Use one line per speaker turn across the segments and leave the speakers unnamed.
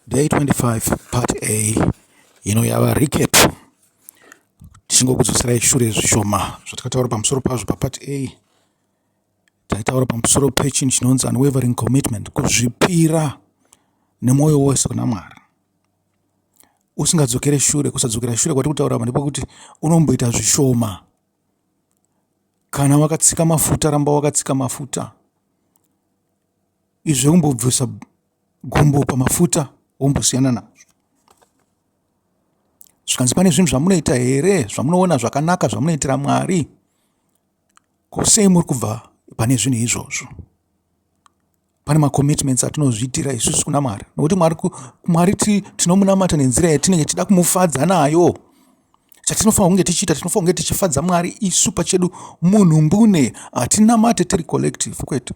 Day 25 part A ino yava recap tichingokudzoserai shure zvishoma zvatakataura pamusoro pazvo papart A taitaura pamusoro pechinhu chinonzi unwavering commitment kuzvipira nemwoyo wose kuna Mwari usingadzokere shure kusadzokera shure kwati kutaura pane pokuti unomboita zvishoma kana wakatsika mafuta ramba wakatsika mafuta izvo kumbobvisa gumbo pamafuta wombosiyana nazvo zvikanzi pane zvinhu zvamunoita here zvamunoona zvakanaka zvamunoitira mwari ko sei muri kubva pane zvinhu izvozvo pane macommitments atinozviitira isusu kuna mwari nokuti mwari mwari tinomunamata nenzira yatinenge tichida kumufadza nayo chatinofanira kunge tichiita tinofanira kunge tichifadza mwari isu pachedu munhu mbune hatinamate tiri collective kwete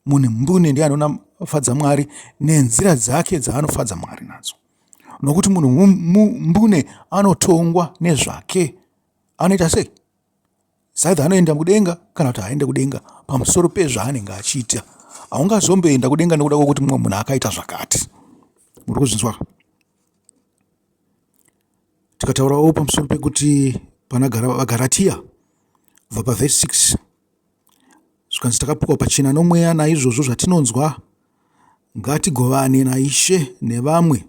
mune mbune ndiye anonafadza mwari nenzira dzake dzaanofadza mwari nadzo nokuti munhu mbune anotongwa nezvake anoita sei saidha anoenda kudenga kana kuti haaende kudenga pamusoro pezvaanenge achiita haungazomboenda kudenga nekuda kwekuti mumwe munhu akaita zvakati muri kuzvinzwa tikataurawo pamusoro pekuti pana vagaratiya kubva pavhesi 6 Zvikanzi takapikwa pachena nomweya naizvozvo zvatinonzwa ngatigovane naIshe nevamwe.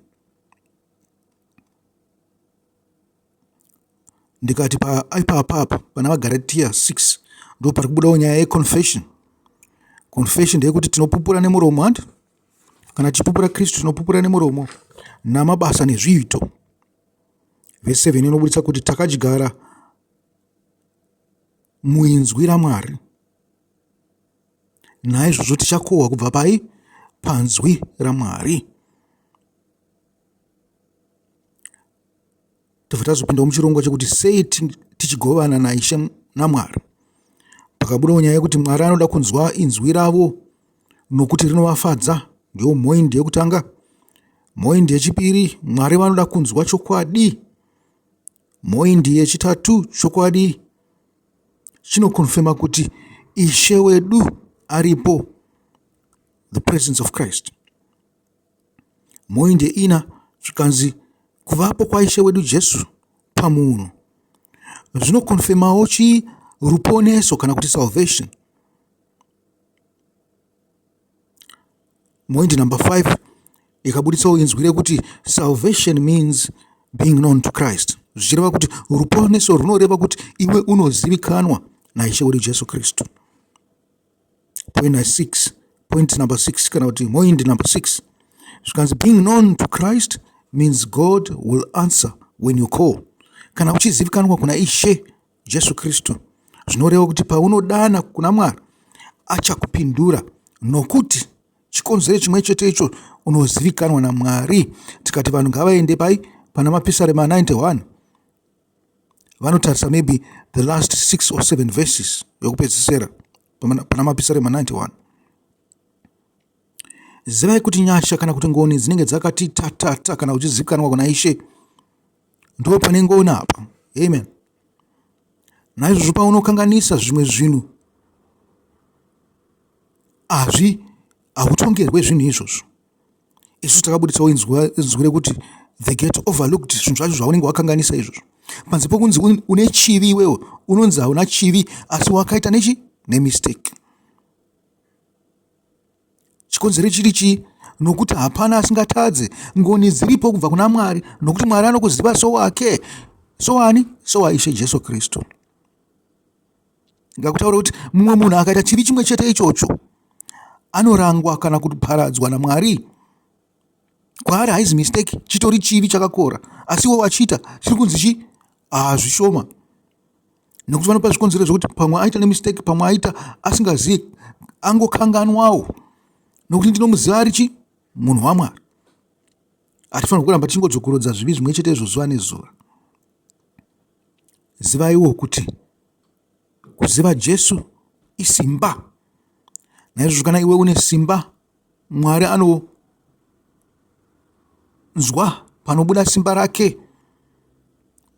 Ndikati paipapapo pana vaGaratia 6 ndo pari kubudawo nyaya yeconfession. Confession ndeyekuti tinopupura nemuromo handi kana tichipupura Kristu tinopupura nemuromo namabasa nezviito. Vese vene inobudisa kuti takadyara muinzwi raMwari. Naizvozvo tichakohwa kubva pai? Panzwi raMwari. Tobva tazopindawo muchirongwa chekuti sei tichigovana naIshe naMwari. Pakabudawo nyaya yekuti Mwari anoda kunzwa inzwi ravo nokuti rinovafadza. Ndiyo mhoindi yekutanga. Mhoindi yechipiri, Mwari vanoda kunzwa chokwadi. Mhoindi yechitatu chokwadi chinokonfema kuti Ishe wedu aripo, the presence of Christ. Mhoindi yeina zvikanzi kuvapo kwaIshe wedu Jesu pamunhu zvinokonfemawo chii? Ruponeso kana kuti salvation. Moindi number five ndikabuditsawo inzwi rekuti salvation means being known to christ zvichireva kuti ruponeso runoreva kuti iwe unozivikanwa naishe wedu jesu kristu point six point number six kana kuti moindi number six zvikanzi being known to christ means god will answer when you call kana uchizivikanwa kuna ishe Jesu Kristu, zvinoreva kuti paunodana kuna Mwari achakupindura nokuti chikonzero chimwe chete icho unozivikanwa naMwari. Tikati vanhu ngavaende pai pana mapisarema 91 vanotarisa maybe the last 6 or 7 verses yokupedzisera pana mapisarema 91 zivai kuti nyasha kana kuti ngoni dzinenge dzakati tatata kana uchizivikanwa kuna ishe Ndo pane ngoni apa. Amen. Naizvozvo paunokanganisa zvimwe zvinhu hazvi hautongerwe zvinhu izvozvo. Isu takabuditsawo inzwi rekuti the get overlooked zvinhu zvacho zvaunenge wakanganisa izvozvo. Panze pokunzi une chivi iwewe unonzi hauna chivi asi wakaita nechi nemistake. Chikonzero chiri chii? Nokuti hapana asingatadze. Ngoni dziripo kubva kuna Mwari, nokuti Mwari anokuziva sowake. Sowani? SowaIshe Jesu Kristu. Ngakutaure kuti mumwe munhu akaita chivi chimwe chete ichocho anorangwa kana kuparadzwa naMwari. kwaari haizi mistake chitori chivi chakakora asi iwe wachiita chiri kunzi chii ah, zvishoma nekuti vanopa zvikonzero zvekuti pamwe aita nemistake pamwe aita asingazivi angokanganwawo nokuti ndinomuziva ari chi munhu wamwari hatifanira kuramba tichingodzokorodza zvivi zvimwe chete izvo zuva nezuva zivaiwo kuti kuziva jesu isimba naizvozvo kana iwe une simba Mwari anonzwa panobuda simba rake.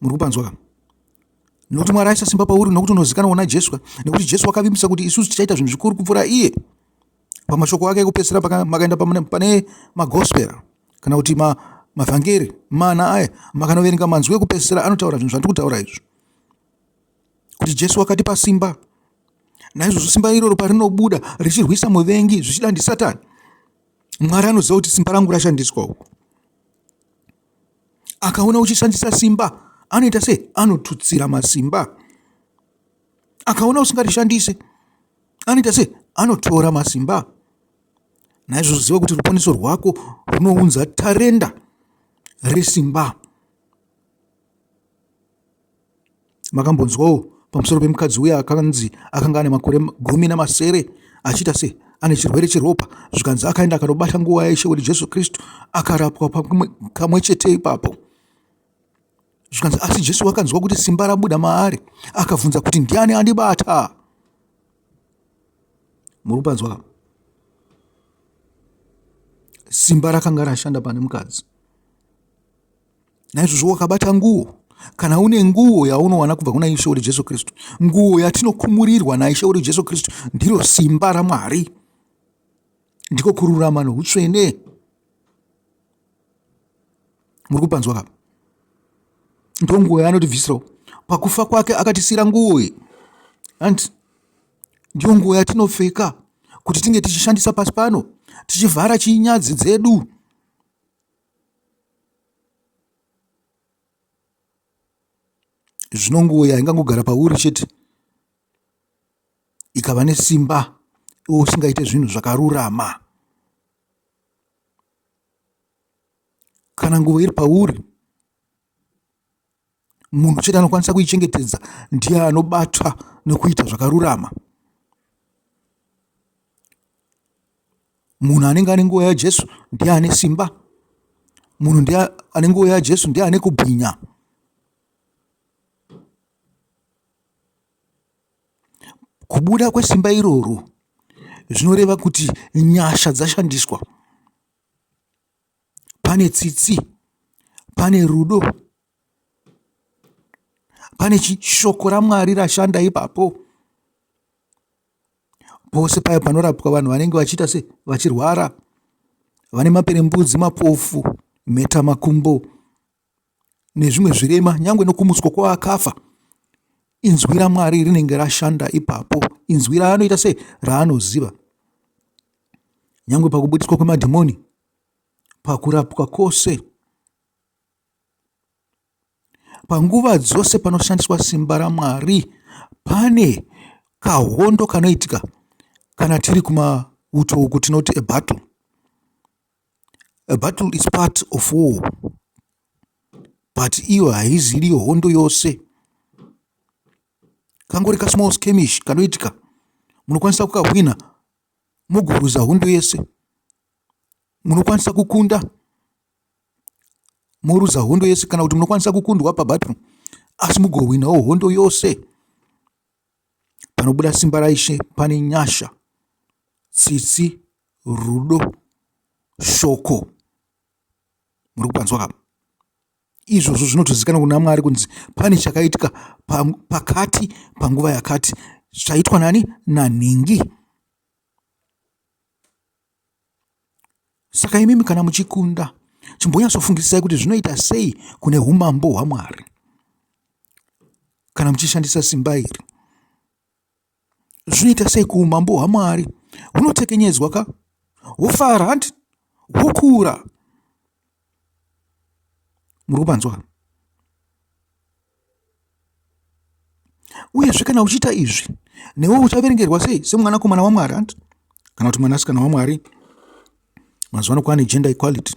Muri kupanzwa kama? Nokuti Mwari aisa simba pauri nokuti unozikanwa kuna Jesu, nekuti Jesu wakavimbisa kuti isusu tichaita zvinhu zvikuru kupfuura iye. Pamashoko ake ekupedzisira makaenda pane magospera kana kuti ma, mavhangeri mana aya makanoverenga manzwi ekupedzisira anotaura zvinhu zvandiri kutaura izvi kuti Jesu wakatipa simba. Naizvozvo simba iroro parinobuda richirwisa muvengi zvichida ndisatani, Mwari anoziva kuti simba rangu rashandiswa uku. Akaona uchishandisa simba, anoita sei? Anotutsira masimba. Akaona usingarishandise, anoita sei? Anotora masimba. Naizvozvo ziva kuti ruponeso rwako runounza tarenda resimba. Makambonzwawo pamusoro pemukadzi uya akanzi akanga ane makore gumi namasere achiita se ane chirwere cheropa zvikanzi akaenda akanobata nguva yaIshe wedu Jesu Kristu akarapwa kamwe chete ipapo zvikanzi asi Jesu akanzwa kuti simba rabuda maari akabvunza kuti ndiani andibata muri kupanzwa ka simba rakanga rashanda pane mukadzi naizvozvo wakabata nguo kana une nguo yaunowana kubva kuna ishe wedu jesu kristu nguo yatinokhumurirwa naishe wedu jesu kristu ndiro simba ramwari ndiko kururama noutsvene muri kupanzwa kapa ndo nguo yaanotibvisirawo pakufa kwake akatisira nguo iyi hanti ndiyo nguo yatinopfeka kuti tinge tichishandisa pasi pano tichivhara chinyadzi dzedu Zvino nguo iya ingangogara pauri chete ikava nesimba iwe usingaite zvinhu zvakarurama. Kana nguo iri pauri Munhu chete anokwanisa kuichengetedza ndiye anobatwa nokuita zvakarurama. Munhu anenge ane nguva yaJesu ndiye ane simba. Munhu ndiye ane nguva yaJesu ndiye ane kubwinya. Kubuda kwesimba iroro zvinoreva kuti nyasha dzashandiswa. pane tsitsi, pane rudo, pane shoko raMwari rashanda ipapo. Pose paye panorapwa vanhu vanenge vachiita se vachirwara, vane maperembudzi, mapofu, mhetamakumbo. nezvimwe zvirema nyangwe nokumutswa kwavakafa inzwi ramwari rinenge rashanda ipapo inzwi raanoita se raanoziva nyangwe pakubudiswa kwemadhimoni pakurapwa kwose panguva dzose panoshandiswa simba ramwari pane kahondo kanoitika kana tiri kumauto uku tinoti ebattle A battle is part of war but iyo haizi iriyo hondo yose kangori kasmall skemish kanoitika munokwanisa kukahwina moguruza hondo yese munokwanisa kukunda moruza hondo yese kana kuti munokwanisa kukundwa pabattle asi mugohwinawo hondo yose Panobuda simba raIshe pane nyasha, tsitsi, rudo, shoko. Muri kupanzwa ka? Izvozvo zvinotozikanwa kuna Mwari kunzi pane chakaitika pakati panguva yakati chaitwa nani? Nanhingi. Saka imimi kana muchikunda, chimbonyatsofungisisai kuti zvinoita sei kune umambo hwaMwari kana muchishandisa simba iri. Zvinoita sei kuumambo hwaMwari hunotekenyedzwa ka hwofara handi hwokura. muri kupanzwa uyezve kana uchiita izvi newe uchaverengerwa sei semwanakomana wamwari ant kana kuti mwanasikana wamwari mazuva ano kwane gender equality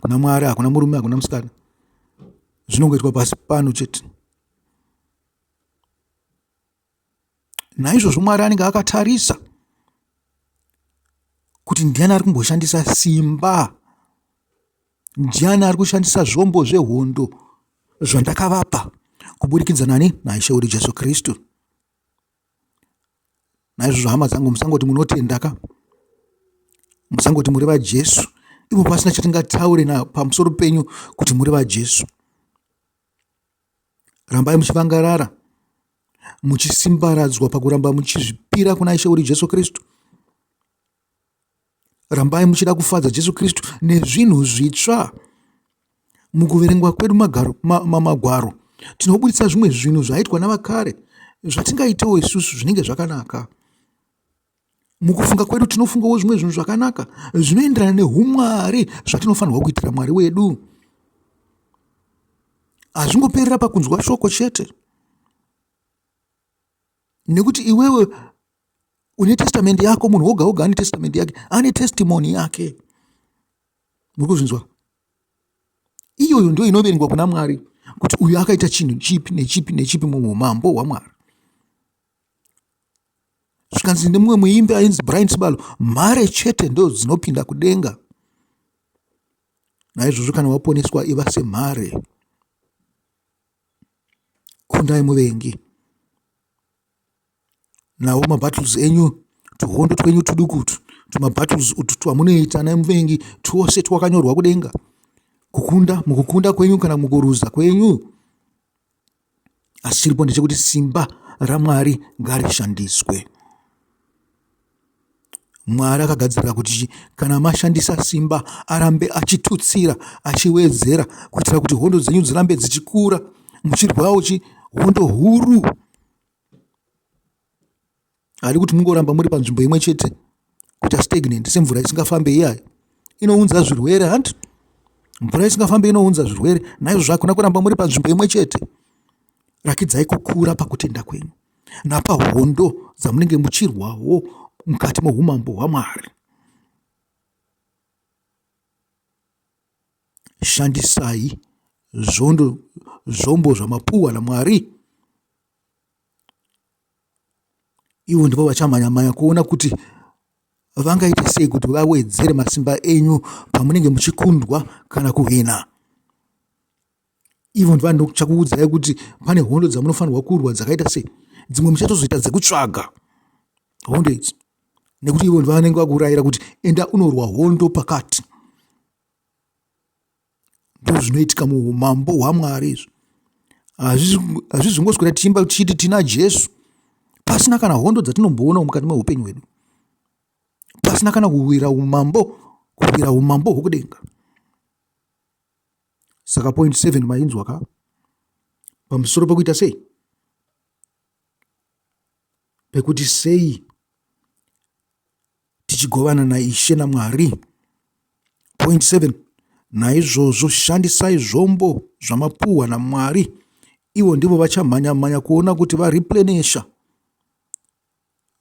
kuna mwari hakuna murume hakuna musikana zvinongoitwa pasi pano chete Naizvozvo Mwari anenge akatarisa kuti ndiani ari kumboshandisa simba, ndiani ari kushandisa zvombo zvehondo zvandakavapa kuburikidza nani naIshe wedu Jesu Kristu. Naizvozvo hama dzangu, musangoti munotenda ka, musangoti muri vaJesu ivo pasina chatingataure na pamusoro penyu kuti muri vaJesu. Rambai muchivangarara, muchisimbaradzwa pakuramba muchizvipira kuna Ishe uri Jesu Kristu. Rambai muchida kufadza Jesu Kristu nezvinhu zvitsva. Mukuverengwa kwedu magaro, ma, ma, magwaro tinobuditsa zvimwe zvinhu zvaitwa navakare zvatingaitewo isusu zvinenge zvakanaka. Mukufunga kwedu tinofungawo zvimwe zvinhu zvakanaka zvinoenderana neumwari zvatinofanirwa kuitira mwari wedu. Hazvingoperera pakunzwa shoko chete, nekuti iwewe une testamendi yako, munhu woga woga ane testamendi yake, ane testimoni yake. Muri kuzvinzwa? Iyoyo ndio inoverengwa kuna Mwari kuti uyu akaita chinhu chipi nechipi nechipi muumambo hwaMwari. zvikanzi nemumwe muimbi ainzi brian sibalo mhare chete ndo dzinopinda kudenga naizvozvo kana waponeswa iva semhare kundai muvengi nawo mabattles enyu tuhondo twenyu tudukutu tumabattles utu twamunoita naye muvengi twose twakanyorwa kudenga kukunda mukukunda kwenyu kana mukuruza kwenyu asi chiripo ndechekuti simba ramwari ngarishandiswe mwari akagadzirira kuti kana mashandisa simba arambe achitutsira achiwedzera kuitira kuti hondo dzenyu dzirambe dzichikura muchirwawo chi hondo huru haadi kuti mungoramba muri panzvimbo imwe chete kuita stagnant semvura isingafambe iyayo inounza zvirwere hanti mvura isingafambe inounza zvirwere naizvozvo hakuna kuramba muri panzvimbo imwe chete rakidzai kukura pakutenda kwenyu napahondo dzamunenge muchirwawo mukati meumambo hwamwari shandisai zvondo zvombo zvamapuwa namwari Ivo ndivo vachamhanya mhanya kuona kuti vangaita sei kuti vawedzere masimba enyu pamunenge muchikundwa kana kuhwina. Ivo ndivo vanochakuudzai kuti pane hondo dzamunofanirwa kurwa dzakaita sei. Dzimwe muchatozoita dzekutsvaga hondo idzi nekuti ivo ndivo vanenge vakuraira kuti enda unorwa hondo pakati. Ndozvinoitika muhumambo hwaMwari izvi. Hazvizi kungoswera tichiimba tichiti tina Jesu pasina kana hondo dzatinomboonawo mukati meupenyu hwedu, pasina kana kuwira umambo, kuwira umambo hwokudenga. Saka point seven mainzwa ka pamusoro pokuita sei pekuti sei tichigovana naIshe naMwari. Point 7 naizvozvo shandisai zvombo zvamapuhwa naMwari ivo ndivo vachamhanya mhanya kuona kuti vareplenisha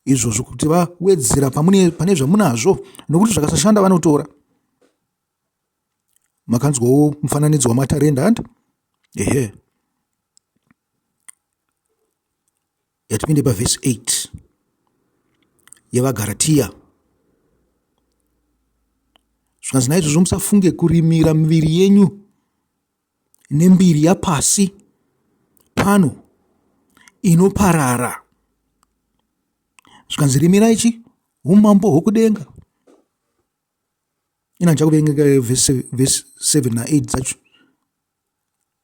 izvozvo kuti vawedzera pane zvamunazvo nokuti zvakasashanda vanotora makanzwawo mufananidzo wamatarenda and ehe yatipinde pavhesi 8 yevagaratiya zvikanzi naizvozvo musafunge kurimira miviri yenyu nembiri yapasi pano inoparara zvikanzi rimira ichi umambo hwokudenga ina ndichakuverengeka vhesi 7 na8 dzacho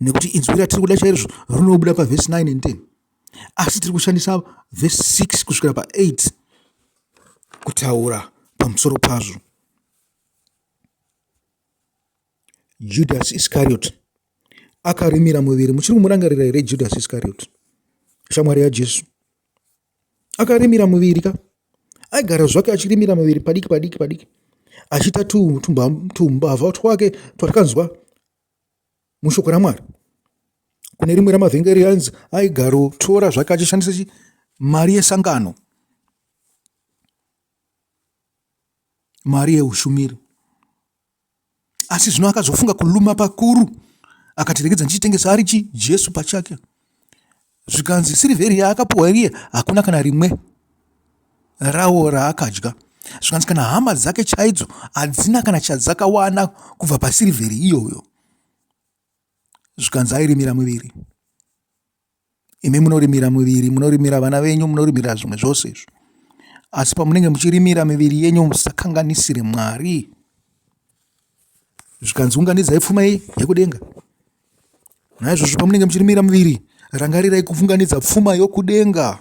nekuti inzwi ratiri kuda chaizvo rinobuda pavhesi 9 and 10 asi tiri kushandisa vhesi 6 kusvikira pa8 kutaura pamusoro pazvo judhasi iskariyoti akarimira muviri muchiri kumurangarira here judhasi iskariyoti shamwari yajesu akarimira muviri ka aigara zvake achirimira muviri padiki padiki padiki achiita tumbavha twake twatakanzwa mushoko ramwari kune rimwe ramavhengeri ainzi aigarotora zvake achishandisa chi mari yesangano mari yeushumiri asi zvino akazofunga kuluma pakuru akatiregedza ndichitengesa ari chi jesu pachake Zvikanzi sirivheri yaakapuhwa iriye hakuna kana rimwe rawo raakadya. Zvikanzi kana hama dzake chaidzo hadzina kana chadzakawana kubva pasirivheri iyoyo. Zvikanzi airimira muviri. Imi munorimira muviri, munorimira vana venyu, munorimira zvimwe zvose izvo. Asi pamunenge muchirimira miviri yenyu musakanganisire Mwari. zvikanzi unganidzai pfuma yekudenga naizvozvo pamunenge muchirimira muviri rangarirai kufunganidza pfuma yokudenga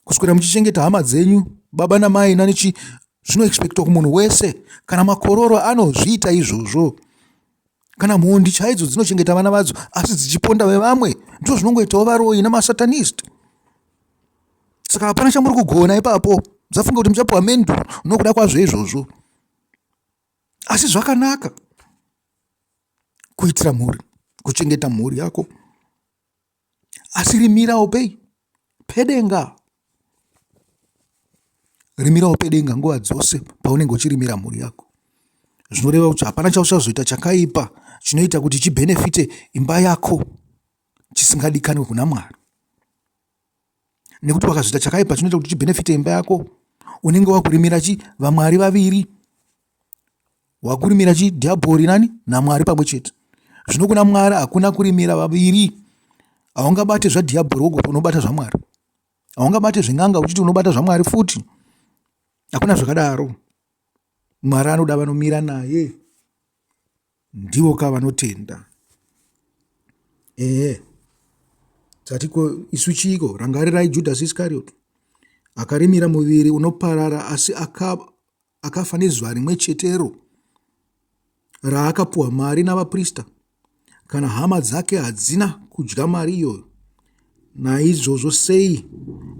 kuswera muchichengeta hama dzenyu baba namai nanichi zvinoexpectwa kumunhu wese kana makororo anozviita izvozvo kana mhondi chaidzo dzinochengeta vana vadzo asi dzichiponda vevamwe ndizvo zvinongoitawo varoyi nemasatanist saka hapana chamuri kugona ipapo dzafunga kuti muchapiwa mendu nokuda kwazvo izvozvo asi zvakanaka kuitira mhuri kuchengeta mhuri yako asi rimirawo pei pedenga rimirawo pedenga nguva dzose paunenge uchirimira mhuri yako zvinoreva kuti hapana chauchazoita chakaipa chinoita kuti chibhenefite imba yako chisingadikanwe kuna mwari nekuti wakazoita chakaipa chinoita kuti chibhenefite imba yako unenge wakurimira chi vamwari vaviri wakurimira chi dhiabhori nani namwari pamwe chete zvino kuna mwari hakuna kurimira vaviri haungabate zvadhiabhori wogoti unobata zvamwari haungabate zven'anga uchiti unobata zvamwari futi hakuna zvakadaro mwari anoda vanomira naye ndivo ka vanotenda ehe dzatiko isu chiiko rangarirai judhasi iskarioti akarimira muviri unoparara asi akafa nezuva rimwe chetero raakapuwa mari navaprista kana hama dzake hadzina kudya mari iyoyo naizvozvo sei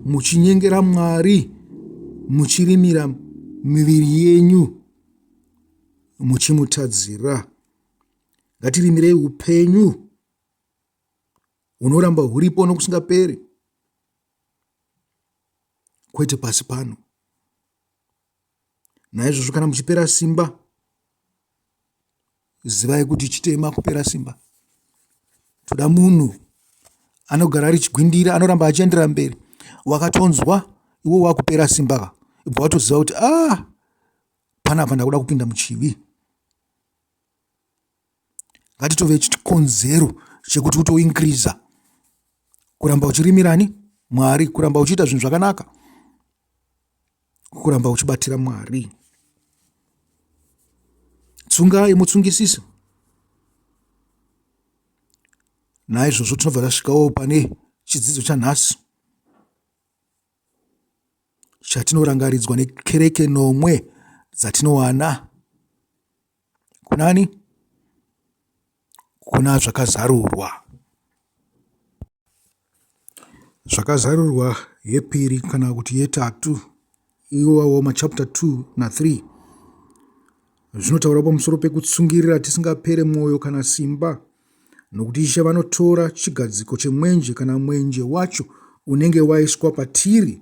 muchinyengera mwari muchirimira miviri yenyu muchimutadzira ngatirimirei upenyu hunoramba huripo nokusingaperi kwete pasi pano Naizvozvo kana muchipera simba, zivai kuti chitema kupera simba. Toda munhu anogara ari chigwindira, anoramba achiendera mberi. Wakatonzwa iwe wakupera simba ka, ibva watoziva kuti ah, panapa ndakuda kupinda muchivi. ngatitove chikonzero chekuti uto increase kuramba uchirimirani mwari kuramba uchiita zvinhu zvakanaka kuramba uchibatira mwari tsungai mutsungisisi naizvozvo tinobva tasvikawo pane chidzidzo chanhasi chatinorangaridzwa nekereke nomwe dzatinowana kunani kuna zvakazarurwa zvakazarurwa yepiri kana kuti yetatu iwawo machapta 2 na 3 zvinotaura pamusoro pekutsungirira tisingapere mwoyo kana simba nokuti ishe vanotora chigadziko chemwenje kana mwenje wacho unenge waiswa patiri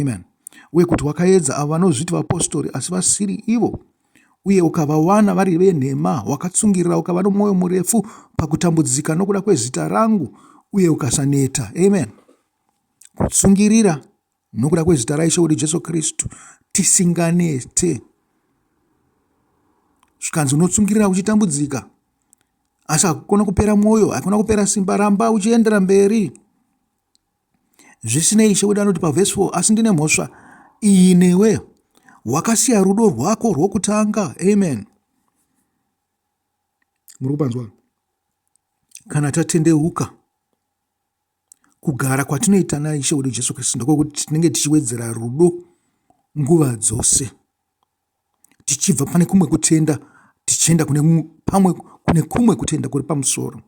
Amen. Uye kuti wakaedza avo vanozviti vapostori asi vasiri ivo, uye ukavawana vari venhema, wakatsungirira ukava nomwoyo murefu pakutambudzika nokuda kwezita rangu, uye ukasaneta. Amen. Kutsungirira nokuda kwezita raIshe wedu Jesu Kristu, tisinganete. Zvikanzi unotsungirira uchitambudzika, asi hakukona kupera mwoyo, hakuna kupera simba, ramba uchiendera mberi. Zvisinei, Ishe wedu anoti pavhesi 4, Asi ndine mhosva iyi newe, wakasiya rudo rwako rwokutanga. Amen. Muri kupanzwa? Kana tatendeuka kugara kwatinoita naIshe wedu Jesu Kristu ndokwokuti tinenge tichiwedzera rudo nguva dzose tichibva pane kumwe kutenda tichienda kune pamwe kune kumwe kutenda kuri pamusoro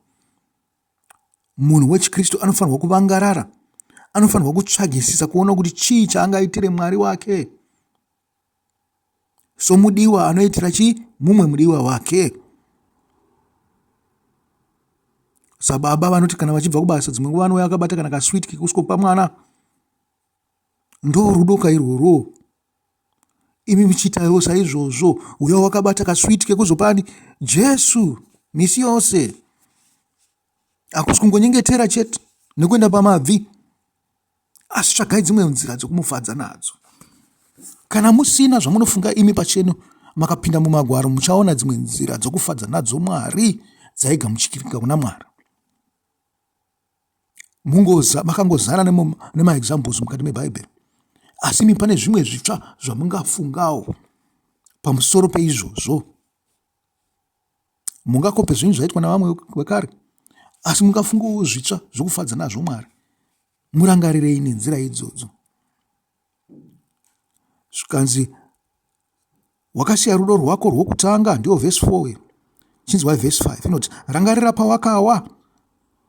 Munhu wechiKristu anofanirwa kuvangarara, anofanirwa kutsvagisisa kuona kuti chii chaangaitire Mwari wake somudiwa anoitira chi mumwe mudiwa wake. Sababa vanoti kana vachibva kubasa dzimwe nguva anouya akabata kana kaswit kekuskopa mwana. Ndoo rudo kairworwo. Imi muchiitawo saizvozvo. Uya wakabata kaswiti kekuzopani Jesu misi yose. Hakusi kungonyengetera chete nekuenda pamabvi, asi tsvagai dzimwe nzira dzokumufadza nadzo. Kana musina zvamunofunga imi pachenu makapinda mumagwaro, muchaona dzimwe nzira dzokufadza nadzo Mwari dzaigamuchikirika kuna Mwari. makangozara nemaexamples mukati mebhaibheri asi imi pane zvimwe zvitsva zvamungafungawo pamusoro peizvozvo mungakope zvinhu zvaitwa navamwe vekare asi mungafungawo zvitsva zvekufadza nazvo mwari murangarirei nenzira idzodzo zvikanzi wakasiya rudo rwako rwokutanga ndiyo vhesi 4 uye chinzwai vhesi 5 inoti rangarira pawakawa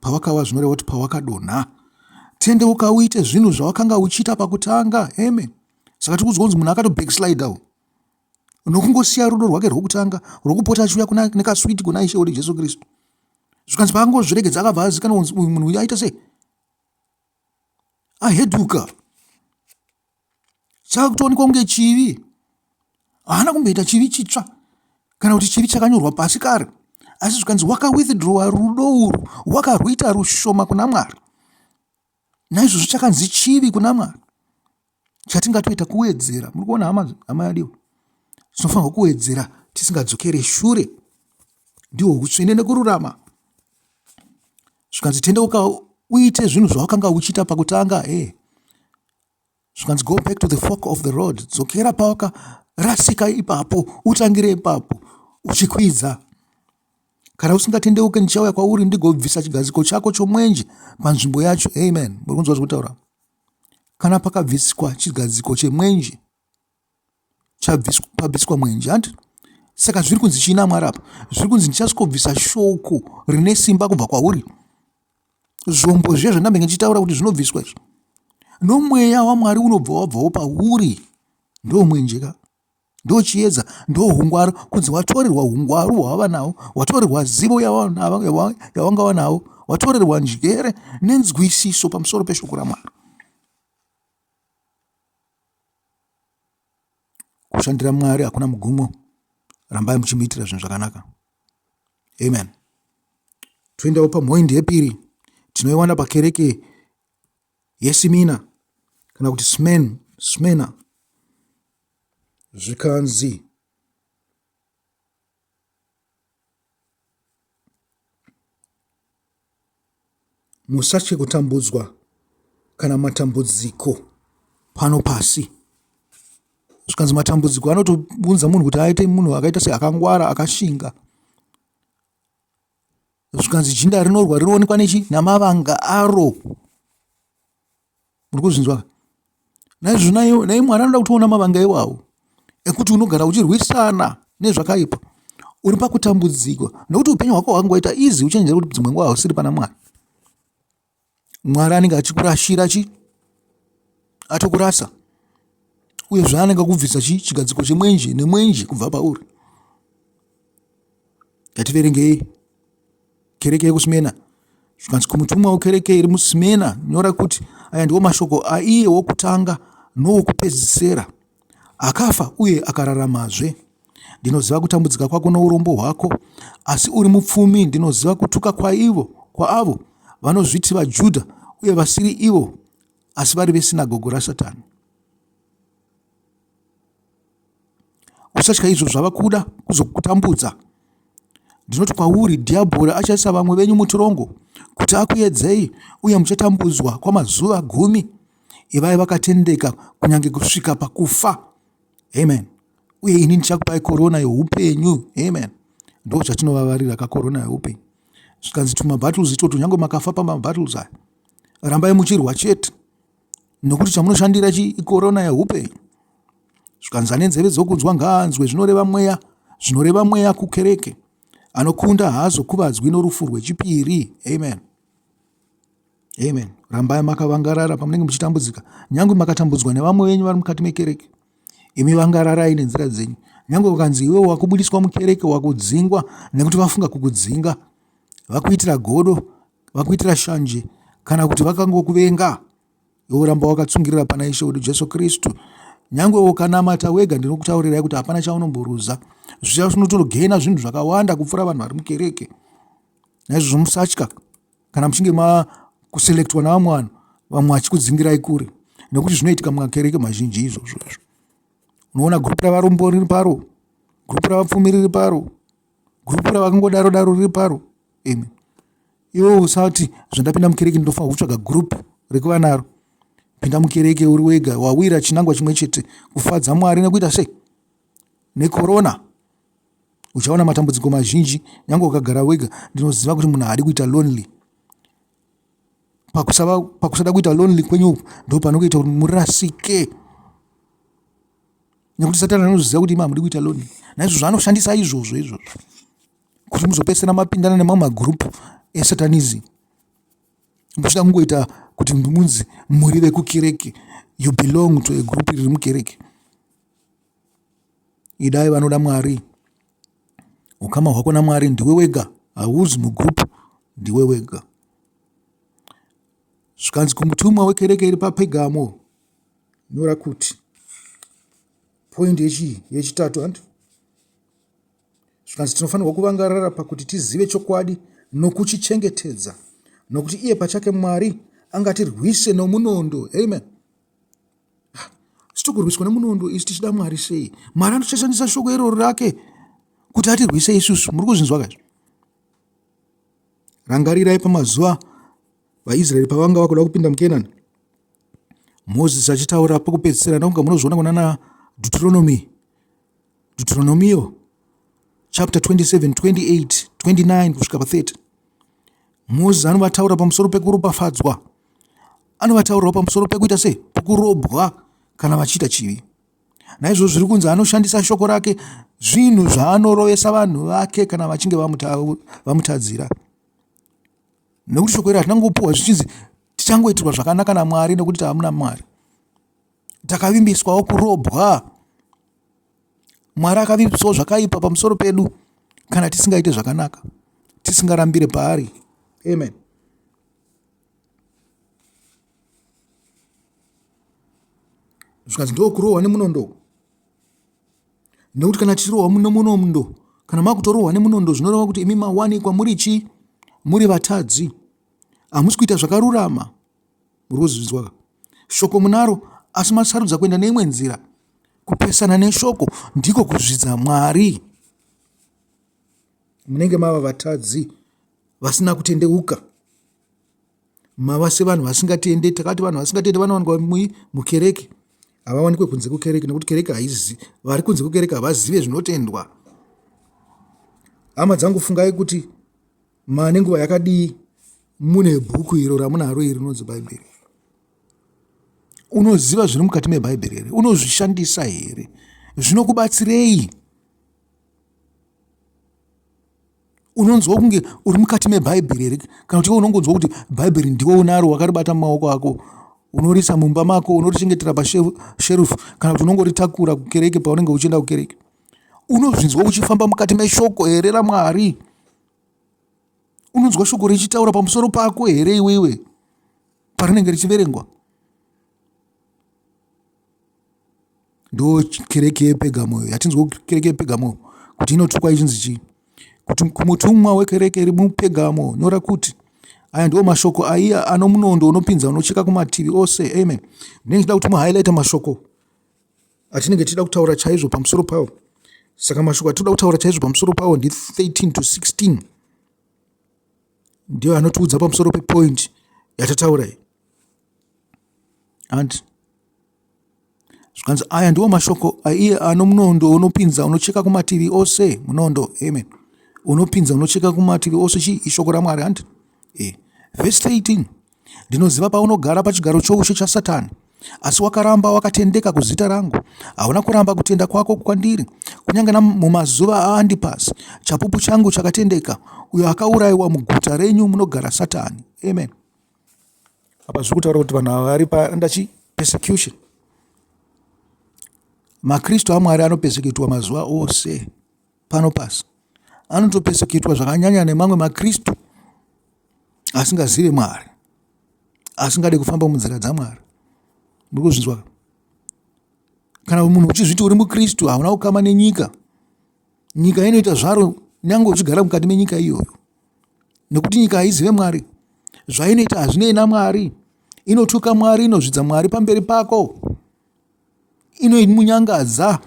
pawakawa zvinoreva kuti pawakadonha tendeuka uite zvinhu zvawakanga uchiita pakutanga amen saka tiri kunzwa kunzi munhu akatobackslide u nokungosiya rudo rwake rwokutanga rwokupota achiuya nekaswiti kuna ishe wedu jesu kristu zvikanzi paangozviregedza akabva azikana kunzi uyu munhu uyu aita sei aheduka chakutoonekwa kunge chivi haana kumboita chivi chitsva kana kuti chivi chakanyorwa pasi kare asi zvikanzi wakawithdrowa rudo urwu wakarwuita rushoma kuna mwari naizvozvo chakanzi chivi kuna mwari chatingatoita kuwedzera muri kuona hama hama yadiwa tinofanirwa kuwedzera tisingadzokere shure ndihwo utsvene nekururama zvikanzi tendeuka uite zvinhu zvawakanga uchiita pakutanga e eh. zvikanzi go back to the fork of the road dzokera pawakarasika ipapo utangire ipapo uchikwidza kana usingatendeuke ndichauya kwauri ndigobvisa chigadziko chako chomwenje panzvimbo yacho amen muri kunzwa zvekutaura kana pakabviswa chigadziko chemwenje pabviswa mwenje hanti saka zviri kunzi chii namwari apa zviri kunzi ndichasvikobvisa shoko rine simba kubva kwauri zvombo zviya zvandambenge ndichitaura kuti zvinobviswa izvi nomweya wamwari unobva wabvawo pauri ndomwenjeka ndochiedza ndohungwaru kunzi watorerwa hungwaru hwawava nawo watorerwa zivo yawanga wanawo watorerwa njere nenzwisiso pamusoro peshoko ramwari kushandira mwari hakuna mugumo rambai muchimuitira zvinhu zvakanaka amen toendawo pamhoindi yepiri tinoiwana pakereke yesimina kana kuti smen smena zvikanzi musatye kutambudzwa kana matambudziko pano pasi zvikanzi matambudziko anotounza munhu kuti aite munhu akaita seakangwara akashinga zvikanzi jinda rinorwa rinoonekwa nechi namavanga aro muri kuzvinzwa naizvozvo nayo naye mwari anoda kutoona mavanga iwawo ekuti unogara uchirwisana nezvakaipa uri pakutambudzikwa nokuti upenyu hwako hwangoita izi uchenjera kuti dzimwe nguva hausiri pana mwari mwari anenge achikurashira chi atokurasa uye zvaanenge kubvisa chi chigadziko chemwenje nemwenje kubva pauri yativerengei kereke yekusmena zvikanzi kumutumwa wekereke iri musmena nyora kuti aya ndiwo mashoko aiye wokutanga nowokupedzisera Akafa uye akararamazve. Ndinoziva kutambudzika kwako nourombo hwako, asi uri mupfumi. Ndinoziva kutuka kwaivo kwaavo vanozviti vaJudha uye vasiri ivo, asi vari vesinagogo raSatani. Usatya izvo zvava kuda kuzokutambudza. Ndinoti kwauri, Dhiabhori achaisa vamwe venyu mutirongo kuti akuedzei, uye muchatambudzwa kwamazuva gumi. ivai vakatendeka kunyange kusvika pakufa amen uye ini ndichakupai korona yeupenyu amen ndo zvatinovavarira kakorona yeupenyu zvikanzi tumabattles itoto nyange makafa pamabattles aya rambai muchirwa chete nokuti chamunoshandira chi ikorona yeupenyu zvikanzi ane nzeve dzokunzwa ngaanzwe zvinoreva mweya zvinoreva mweya kukereke anokunda haazokuvadzwi norufu rwechipiri amen Amen. Rambai makavangarara pamunenge muchitambudzika, nyangwe makatambudzwa nevamwe venyu vari mukati mekereke. Imi vangararai nenzira dzenyu, nyangwe ukanzi iwe wakubudiswa mukereke, wakudzingwa nekuti vafunga kukudzinga, vakuitira godo, vakuitira shanje, kana kuti vakangokuvenga, iwe ramba wakatsungirira pana Ishe wedu Jesu Kristu. Nyangwe ukanamata wega, ndinokutaurirai kuti hapana chaunomboruza. Zvichaunotogaina zvinhu zvakawanda kupfuura vanhu vari mukereke. Naizvozvo musatya kana muchinge makuselectwa navamwe vanhu vamwe vachikudzingirai kure nekuti zvinoitika mumakereke mazhinji izvozvo izvo unoona gurupu ravarombo riri paro gurupu ravapfumi riri paro gurupu ravakangodaro daro riri paro imi iwe usati zvandapinda mukereke ndinofanira kutsvaga gurupu rekuva naro pinda mukereke uri wega wawira chinangwa chimwe chete kufadza mwari nekuita sei nekorona uchaona matambudziko mazhinji nyange ukagara wega ndinoziva kuti munhu haadi kuita lonely pakusava pakusada kuita lonely kwenyu uku ndo panokuita kuti murasike nekuti satani anoziva kuti imi hamudi kuita lonely naizvozvo anoshandisa izvozvo izvozvo kuti muzopedzisira mapindana nemamwe magroupu esatanism muchida kungoita kuti munzi muri vekukereke you belong to a group riri mukereke idai vanoda mwari ukama hwako namwari ndiwe wega hauzi mugroup ndiwe wega zvikanzi kumutumwa wekereke iri papegamo nyora kuti point yechii yechitatu handi zvikanzi tinofanirwa kuvangarara pakuti tizive chokwadi nokuchichengetedza nokuti iye pachake mwari angatirwise nomunondo amen Sitokurwiswa nemunondo isu tichida Mwari sei? Mwari anochashandisa shoko iroro rake kuti atirwise isusu. Muri kuzvinzwa kazvo? Rangarirai pamazuva vaIsraeri pavanga vakuda kupinda muKenani. Mozisi achitaura pakupedzisira ndakunga munozviona kunana Deuteronomy Deuteronomio chapter 27, 28, 29 kusvika pa30. Moses anovataura pamusoro pekuropafadzwa. Anovataurawo pamusoro pekuita sei? Pekurobwa kana vachiita chivi. Naizvozvo zviri kunzi anoshandisa shoko rake zvinhu zvaanorovesa vanhu vake kana vachinge vamutadzira vamuta nekuti shoko iri hatina kungopuwa zvichinzi tichangoitirwa zvakanaka namwari nekuti taamuna mwari takavimbiswawo kurobwa mwari akavimbiswawo zvakaipa pamusoro pedu kana tisingaite zvakanaka tisingarambire paari amen zvikanzi ndokurohwa nemunondo nekuti kana tichirohwa nemunondo kana makutorohwa nemunondo zvinoreva kuti imi mawanikwa muri chii muri vatadzi hamusi kuita zvakarurama Muri kuzvinzwa ka? Shoko munaro asi masarudza kuenda neimwe nzira. Kupesana neshoko ndiko kuzvidza Mwari. Munenge mava vatadzi vasina kutendeuka. Mava sevanhu vasingatende. Takati vanhu vasingatende vanowanikwa mui mukereke. Havawanikwe kunze kukereke nekuti kereke haizi vari kunze kukereke havazive zvinotendwa. Hama dzangu fungai kuti Ma nenguva yakadii mune bhuku iro ramunaro iri rinonzi Bhaibheri? Unoziva zviri mukati meBhaibheri here? Unozvishandisa here? Zvinokubatsirei? unonzwa kunge uri mukati mebhaibheri here kana kuti iwe unongonzwa kuti bhaibheri ndiwe unaro wakaribata mumaoko ako unorisa mumba mako unorichengetera pasherufu kana kuti unongoritakura kukereke paunenge uchienda kukereke unozvinzwa uchifamba mukati meshoko here ramwari unonzwa shoko richitaura pamusoro pako here iwewe parinenge richiverengwa ndo kereke yepegamoyo yatinzwa kereke yepegamoyo kuti inotukwa ichinzi chii kuti kumutumwa wekereke iri mupegamo nyora kuti aya ndiwo mashoko aiya ano munondo unopinza unocheka kumativi ose amen ndinenge ndida kuti muhighlighte mashoko atinenge tichida kutaura chaizvo pamusoro pawo saka mashoko atinoda kutaura chaizvo pamusoro pawo ndi 13 to 16 ndiyo anotiudza pamusoro pepoint yatataura iyi hanti zvikanzi aya ndiwo mashoko aiye ano munondo unopinza unocheka kumativi ose munondo amen unopinza unocheka kumativi ose chii ishoko ramwari hanti e eh, vhesi 13 Ndinoziva paunogara pachigaro choushe chaSatani, asi wakaramba wakatendeka kuzita rangu. Hauna kuramba kutenda kwako kwandiri, kunyange namumazuva aAndipasi, chapupu changu chakatendeka, uyo akaurayiwa muguta renyu munogara Satani. Amen. Apa zviri kutaura kuti vanhu ava vari pandachi persecution. MaKristu aMwari anopeseketwa mazuva ose. pano pasi anotopeseketwa zvakanyanya nemamwe makristu asingazive mwari asingade kufamba munzira dzamwari muri kuzvinzwa kana munhu uchizviti uri mukristu hauna kukama nenyika nyika inoita zvaro nyange uchigara mukati menyika iyoyo nekuti nyika haizive mwari zvainoita hazvinei namwari inotuka mwari inozvidza mwari pamberi pako inomunyangadza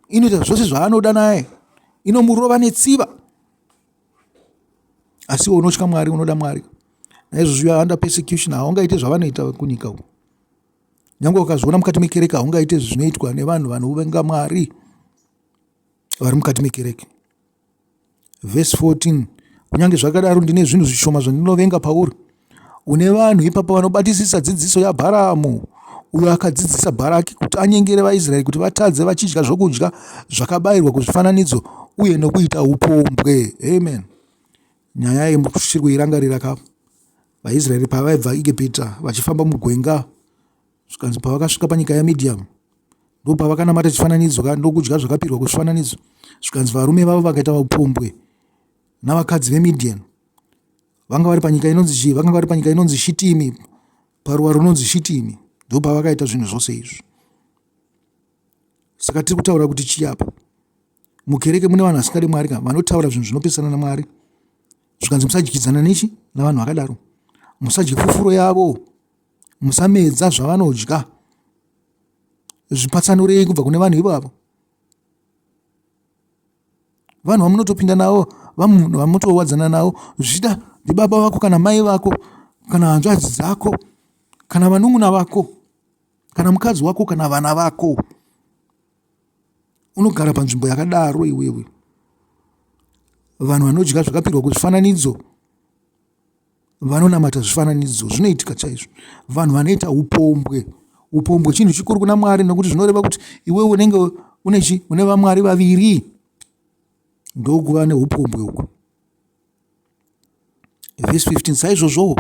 inoita zvose zvaanoda naye inomurova netsiva asi unotya mwari unoda mwari naizvozvo you are under persecution haungaite zvavanoita kunyika uku nyange ukazviona mukati mekereke haungaite zvinoitwa nevanhu vanovenga mwari vari mukati mekereke Vhesi 14 Kunyange zvakadaro, ndine zvinhu zvishoma zvandinovenga pauri. Une vanhu ipapa vanobatisisa dzidziso yaBharamu, uyo akadzidzisa Bharaki kuti anyengere vaIsraeri kuti vatadze vachidya zvokudya zvakabayirwa kuzvifananidzo uye nokuita upombwe. Amen. Nyaya iyi muchiri kuirangarira ka? VaIsraeri pavaibva Egipita vachifamba mugwenga zvikanzi pavakasvika panyika yamidhiyamu ndopavakanamata chifananidzo ka ndokudya zvakapirwa kuzvifananidzo zvikanzi varume vavo vakaita vapumbwe navakadzi vemidhian vanga vari panyika inonzi chii vakanga vari panyika inonzi shitimi paruwa runonzi shitimi ndopavakaita zvinhu zvose izvi saka tiri kutaura kuti chii apa mukereke mune vanhu vasingade mwari ka vanotaura zvinhu zvinopesana namwari zvikanzi musadyidzana nechi navanhu vakadaro musadye fufuro yavo musamedza zvavanodya zvipatsanurei kubva kune vanhu ivavo vanhu vamunotopinda navo vamutowadzana navo zvichida ndibaba vako kana mai vako kana hanzvadzi dzako kana vanun'una vako kana mukadzi wako kana vana vako unogara panzvimbo yakadaro iwewe vanhu vanodya zvakapirwa kuzvifananidzo vanonamata zvifananidzo zvinoitika chaizvo vanhu vanoita upombwe upombwe chinhu chikuru kuna mwari nokuti zvinoreva kuti iwe unenge une chi une vamwari vaviri ndokuva neupombwe uku vhesi 15 saizvozvowo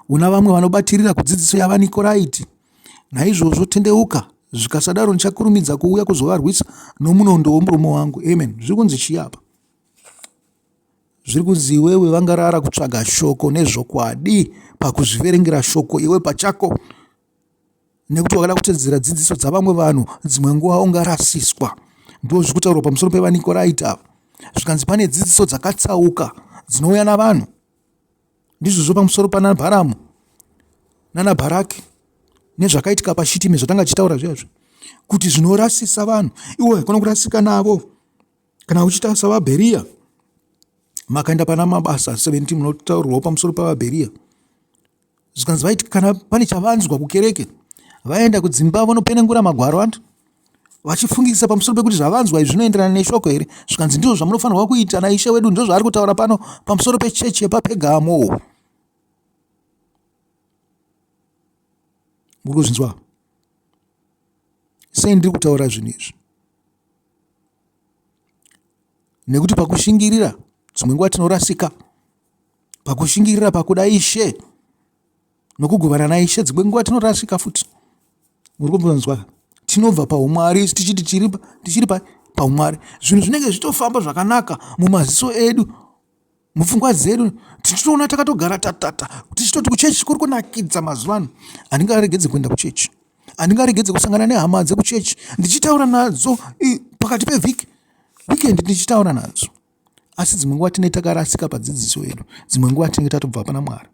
una vamwe vanobatirira kudzidziso yavanikoraiti naizvozvo tendeuka zvikasadaro ndichakurumidza kuuya kuzovarwisa nomunondo womurume wangu amen zviri kunzi chiyapa Zviri kunzi iwewe vangarara kutsvaga shoko nezvokwadi pakuzviverengera shoko iwe pachako nekuti wakada kutedzera dzidziso dzavamwe vanhu dzimwe nguva ungarasiswa ndo zviri kutaurwa pamusoro pevanikoraita zvikanzi pane dzidziso dzakatsauka dzinouya navanhu ndizvozvo pamusoro pana bharamu nana bharaki nezvakaitika pashitimi zvatanga tichitaura zviyazvo kuti zvinorasisa vanhu iwe haikona kurasika navo Kana uchiita savaBheriya, makaenda pana Mabasa 17 munotaurirwawo pamusoro pavaBheriya zvikanzi vaiti kana pane chavanzwa kukereke vaenda kudzimba vanopenengura magwaro antu vachifungisisa pamusoro pekuti zvavanzwa izvi zvinoenderana neshoko here zvikanzi ndizvo zvamunofanirwa kuita naishe wedu ndizvo zvaari kutaura pano pamusoro pechechi yepapegamo muri kuzvinzwa sei ndiri kutaura zvinhu izvi nekuti pakushingirira dzimwe nguva tinorasika pakushingirira pakuda ishe nokugovana naishe dzimwe nguva tinorasika futi muri kumbonzwa tinobva paumwari tichiti tichiri paumwari zvinhu zvinenge zvichitofamba zvakanaka mumaziso edu mupfungwa dzedu tichitoona takatogara tatata tichitoti kuchechi kuri kunakidza mazuva ano handinge aregedze kuenda kuchechi handinge aregedze kusangana nehama dzekuchechi ndichitaura nadzo pakati pevhiki weekend ndichitaura nadzo asi dzimwe nguva tinee takarasika padzidziso yedu dzimwe nguva tinenge tatobva pana mwari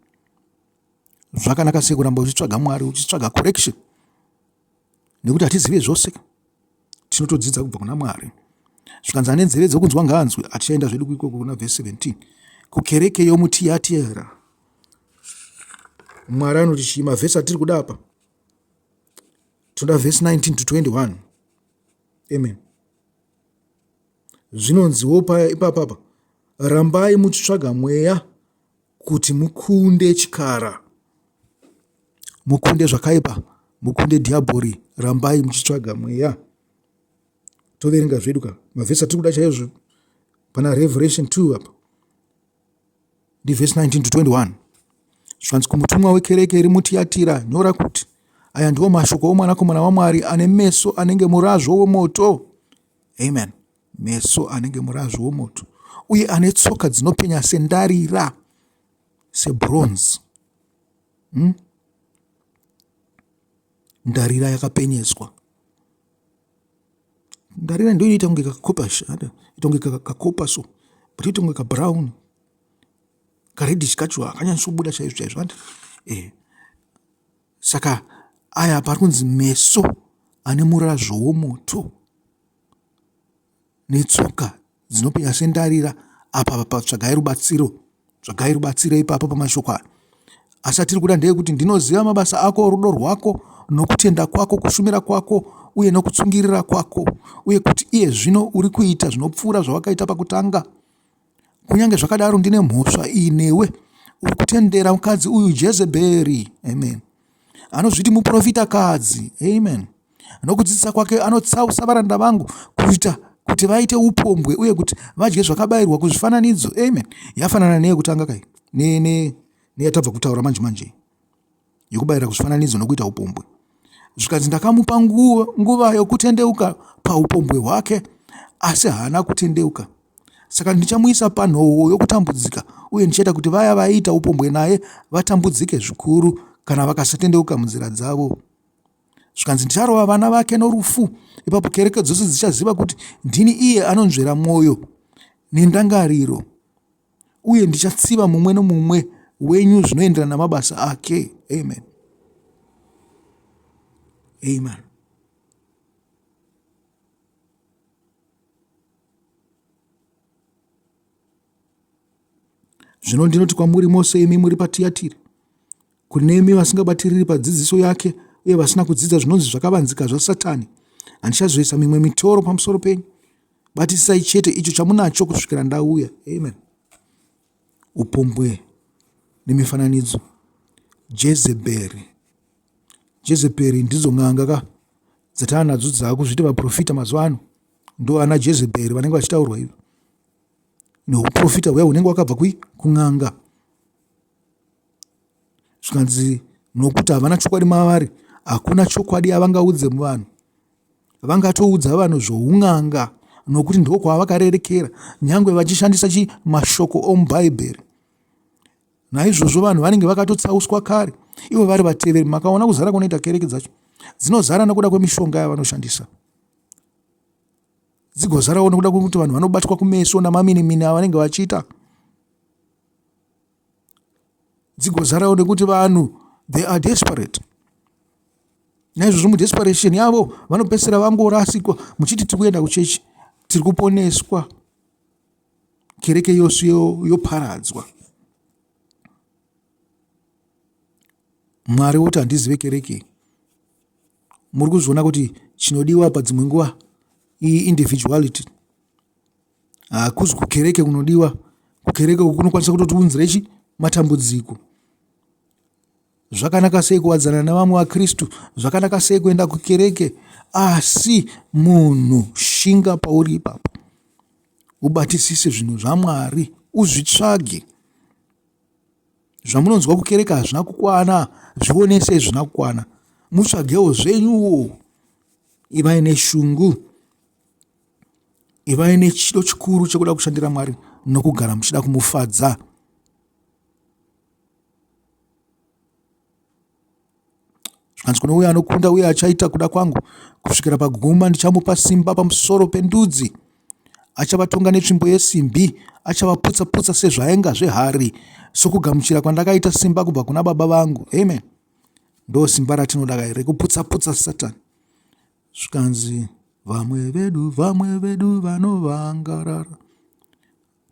zvakanaka sei kuramba uchitsvaga mwari uchitsvaga correction nekuti hatizive zvose tinotodzidza kubva kuna mwari zvikanzi ane nzeve dzokunzwa ngaanzwe hatichaenda zvedu kuikoko kuna vhesi 17 kukereke yomutiyatiyera mwari anoti chii mavhesi atiri kuda apa tinoda vhesi 19 to 21 amen zvinonziwo paya ipapapa rambai muchitsvaga mweya kuti mukunde chikara, mukunde zvakaipa, mukunde dhiabhori, rambai muchitsvaga mweya. Toverenga zvedu ka mavhesi atiri kuda chaizvo pana Revelation 2 apa ndivhesi 19 to 21 zvanzi kumutumwa wekereke iri mutiyatira nyora kuti aya ndiwo mashoko omwanakomana wamwari ane meso anenge murazvo wemoto amen meso anenge murazvi womoto, uye ane tsoka dzinopenya sendarira, sebronze. Hmm? Ndarira yakapenyeswa. Ndarira ndiyo inoita kunge kakopa shada, ita kunge kakopa so, but ita kunge kabrown. Karedhish kacho hakanyatsobuda chaizvo chaizvo. Andi? Eh. Saka aya pari kunzi meso ane murazvo womoto. netsoka dzinopenya sendarira apa tsvagai rubatsiro tsvagai rubatsiro ipapo pamashoko aya asi atiri kuda ndeyekuti ndinoziva mabasa ako rudo rwako nokutenda kwako kushumira kwako uye nokutsungirira kwako uye kuti iye zvino uri kuita zvinopfuura zvawakaita pakutanga Kunyange zvakadaro ndine mhosva iyi newe uri kutendera mukadzi uyu Jezeberi. Amen. Anozviti muprofita kadzi. Amen. Nokudzidzisa kwake anotsausa varanda vangu kuita kuti vaite upombwe uye kuti vadye zvakabayirwa kuzvifananidzo. Amen. Yafanana neyekutanga kai? Ne ne neyatabva kutaura manje manje. yokubayira kuzvifananidzo nokuita upombwe. Zvikanzi ndakamupa nguva, nguva yokutendeuka paupombwe hwake, asi haana kutendeuka. Saka ndichamuisa panhowo yokutambudzika, uye ndichaita kuti vaya vaiita upombwe naye vatambudzike zvikuru kana vakasatendeuka munzira dzavo. Zvikanzi ndicharova vana vake norufu, ipapo kereke dzose dzichaziva kuti ndini iye anonzvera mwoyo nendangariro. uye ndichatsiva mumwe nomumwe wenyu zvinoenderana namabasa ake amen amen zvino ndinoti kwamuri mose imi muri patiyatiri Kunemi vasingabatiriri padzidziso yake uye vasina kudzidza zvinonzi zvakavanzika zvaSatani, handichazoisa mimwe mitoro pamusoro penyu. Batisisai chete icho chamunacho kusvikira ndauya. Amen. Upombwe nemifananidzo. Jezeberi. Jezeberi ndidzo n'anga ka dzatava nadzo dzaakuzviti vaprofita mazuva ano ndo ana jezeberi vanenge vachitaurwa ivo neuprofita huya hunenge wakabva kui kun'anga zvikanzi nokuti havana chokwadi mavari hakuna chokwadi yavangaudze vanhu vangatoudza vanhu zvoun'anga nokuti ndiko kwavakarerekera nyange vachishandisa chi mashoko omubhaibheri naizvozvo vanhu vanenge vakatotsauswa kare ivo vari vateveri makaona kuzara kunoita kereke dzacho dzinozara nokuda kwemishonga yavanoshandisa dzigozarawo nokuda kwekuti vanhu vanobatwa kumeso namaminimini avanenge vachiita dzigozarawo nekuti vanhu they are desperate naizvozvo mudesperation yavo vanopedzisira vangorasikwa muchiti tiri kuenda kuchechi tiri kuponeswa kereke yose yoparadzwa mwari woti handizive kereke muri kuzviona kuti chinodiwa padzimwe nguva iyi individuality Hakusi kukereke kunodiwa, kukereke uku kunokwanisa kutotiunzira chi matambudziko. Zvakanaka sei kuwadzana nevamwe vaKristu, zvakanaka sei kuenda kukereke, asi munhu shinga pauri ipapo, ubatisise zvinhu zvaMwari, uzvitsvage. Zvamunonzwa kukereke hazvina kukwana, zvionesei zvina kukwana, mutsvagewo zvenyuwo, ivai neshungu Ivai nechido chikuru chekuda kushandira Mwari nokugara muchida kumufadza. Zvikanzi kune uye anokunda uye achaita kuda kwangu kusvikira paguma, ndichamupa simba pamusoro pendudzi. Achavatonga netsvimbo yesimbi, achavaputsa-putsa sezvaenga zvehari, sokugamuchira kwandakaita simba kubva kuna Baba vangu. Amen. Ndo simba ratinoda kai rekuputsa-putsa Satani. zvikanzi vamwe vedu vamwe vedu vanovangarara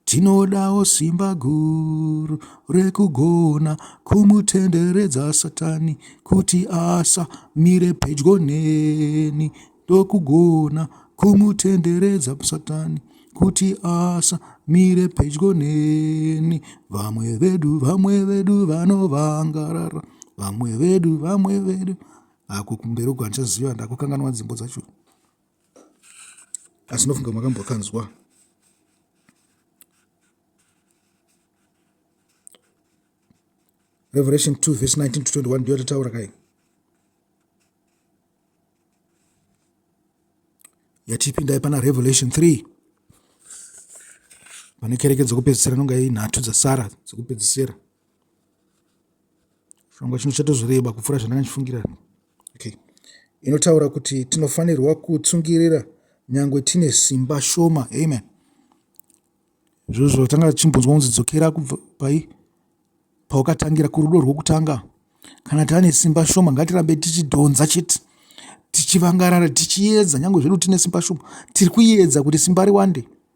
tinodawo simba guru rekugona kumutenderedza satani kuti asa mire pedyo neni ndokugona kumutenderedza satani kuti asa mire pedyo neni vamwe vedu vamwe vedu vanovangarara vamwe vedu vamwe vedu ako kumberi uko handichaziva ndakukanganwa nzimbo dzacho asi ndofunga makambokanzwa revelation 2 verse 19 to 21 ndiyo yatataura kai yatipindai pana revelation 3 pane kereke dzekupedzisira inonga inhatu dzasara dzekupedzisira chirongwa chino chatozoreba kupfuura zvandanga ndichifungira okay inotaura kuti tinofanirwa kutsungirira nyange tine simba shoma amen izvozvo tanga tichimbonzwa kunzi dzokera kubva pai pawakatangira kurudo rwokutanga kana tane simba shoma ngatirambe tichidhonza chete tichivangarara tichiedza nyange zvedu tine simba shoma tiri kuedza kuti simba riwande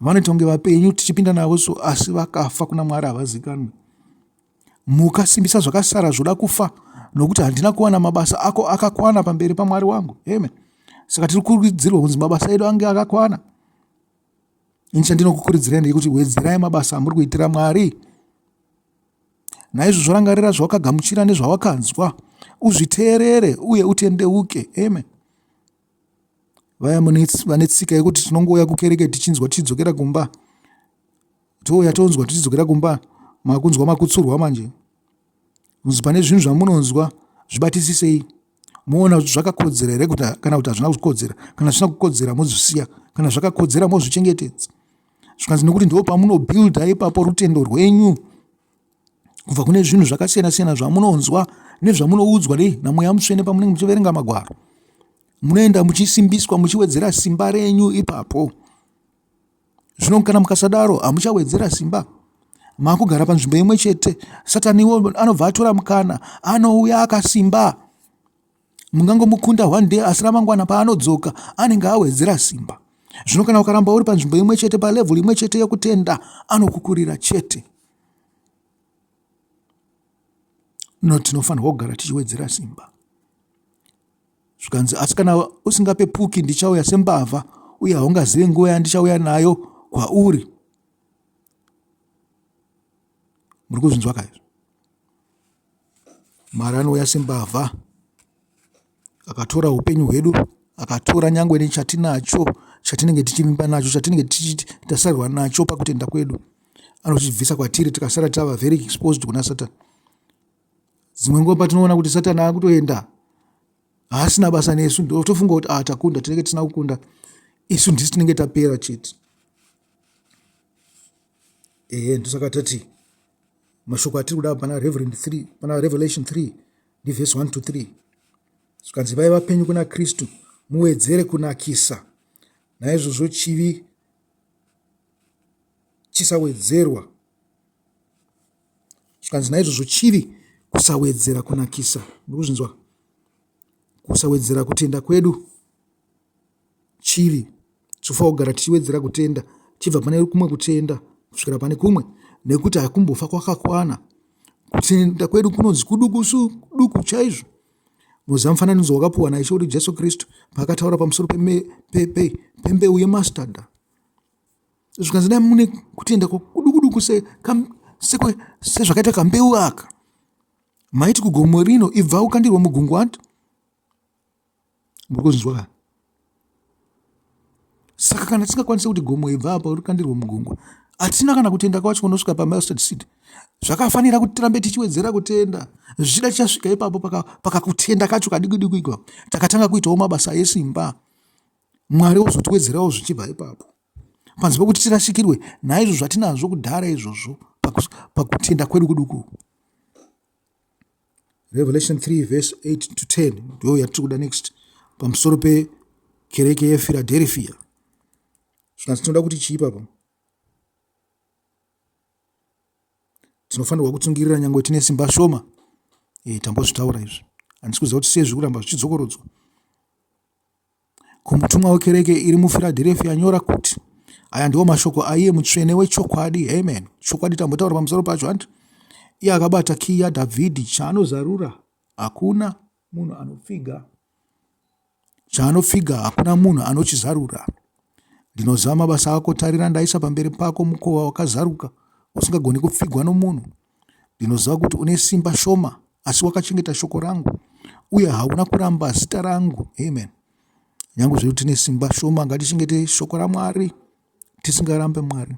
vanoita kunge vapenyu tichipinda navo so asi vakafa kuna mwari havazikanwe muka simbisa zvakasara zvoda kufa nokuti handina kuwana mabasa ako akakwana pamberi pamwari wangu amen saka tiri kurudzirwa kunzi mabasa edu ange akakwana ini chandinokukuridzirai ndeyekuti wedzerai mabasa amuri kuitira mwari naizvozvo rangarira zvawakagamuchira nezvawakanzwa uzviteerere uye utendeuke amen vaya vane tsika yekuti tinongouya kukereke tichinzwa tichidzokera kumba touya tonzwa tichidzokera kumba makunzwa makutsurwa manje kunzi pane zvinhu zvamunonzwa zvibatisisei moona kuti zvakakodzera here kuti kana kuti hazvina kukodzera kana zvisina kukodzera mozvisiya kana zvakakodzera mozvichengetedza zvikanzi nekuti ndo pamunobuilda ipapo rutendo rwenyu kubva kune zvinhu zvakasiyana siyana zvamunonzwa nezvamunoudzwa nei namweya mutsvene pamunenge muchiverenga magwaro munoenda muchisimbiswa muchiwedzera simba renyu ipapo zvino kana mukasadaro hamuchawedzera simba makugara panzvimbo imwe chete sataniwo anobva atora mukana anouya akasimba Mungangomukunda one day asi ramangwana paanodzoka anenge awedzera simba. Zvino kana ukaramba uri panzvimbo imwe chete palevel imwe chete yekutenda anokukurira chete. No tinofanirwa kugara tichiwedzera simba. Zvikanzi asi kana usingapepuki ndichauya sembavha uye haungazive nguva yandichauya nayo kwauri. Muri kuzvinzwa kaizvo? Mwari anouya sembavha akatora hupenyu hwedu akatora nyangwe nechatinacho chatinenge tichivimba nacho chatinenge tasarwa nacho pakutenda kwedu anochibvisa kwatiri tikasara tava very exposed kuna satani dzimwe nguva patinoona kuti satani akutoenda haasina basa nesu ndotofunga kuti a ah, takunda tinenge tisina kukunda isu ndisi tinenge tapera chete ehe ndosaka tati mashoko atiri kuda pana reverend 3 pana revelation 3 ndivhesi 1 to 3 zvikanzi vaiva vapenyu kuna kristu muwedzere kunakisa naizvozvo chivi chisawedzerwa zvikanzi naizvozvo chivi kusawedzera kunakisa ndikuzvinzwa kusawedzera kutenda kwedu chiri tinofanira kugara tichiwedzera kutenda tichibva pane kumwe kutenda kusvikira pane kumwe nekuti hakumbofa kwakakwana kutenda kwedu kunonzi kudukusu duku chaizvo muziva mufananidzo wakapuwa naishe kuti jesu kristu paakataura pamusoro pembeu yemastada zvikanzi dai mune kutenda kudukuduku sezvakaita kambeu aka maiti kugomo rino ibva ukandirwa mugungwati muri kuzvinzwa ka saka kana tisingakwanisi kuti gomo ibva apa uri kandirwe mugongo hatina kana kutenda kwacho kunosvika pamustard seed zvakafanira kuti tirambe tichiwedzera kutenda zvichida tichasvika ipapo pakakutenda paka kacho kadikudikui ipapo takatanga kuitawo mabasa esimba mwari wozotiwedzerawo zvichibva ipapo panzi pokuti tirasikirwe naizvo zvatinazvo kudhara izvozvo pakutenda kwedu kuduku revelation 3 vese 8 to 10 ndo yatiri kuda next pamusoro pekereke yefiladelfia saka tinoda kuti chii papa tinofanirwa kutsungirira nyange tine simba shoma e, tambozvitaura izvi handisi kuziva kuti sei zvikuramba zvichidzokorodzwa kumutumwa wekereke iri muFiradherefia, nyora kuti, Aya ndiwo mashoko aiye mutsvene wechokwadi. Amen. Chokwadi tambotaura pamusoro pacho, handi? Iye akabata kiyi yaDhavhidhi, chaanozarura hakuna munhu anopfiga, chaanopfiga hakuna munhu anochizarura. Ndinozama basa ako, tarira, ndaisa pamberi pako mukova wakazaruka, usingagoni kupfigwa nomunhu. Ndinoziva kuti une simba shoma, asi wakachengeta shoko rangu, uye hauna kuramba zita rangu. Amen. Nyange zviri kuti tine simba shoma, ngatichengete shoko raMwari, tisingarambe Mwari.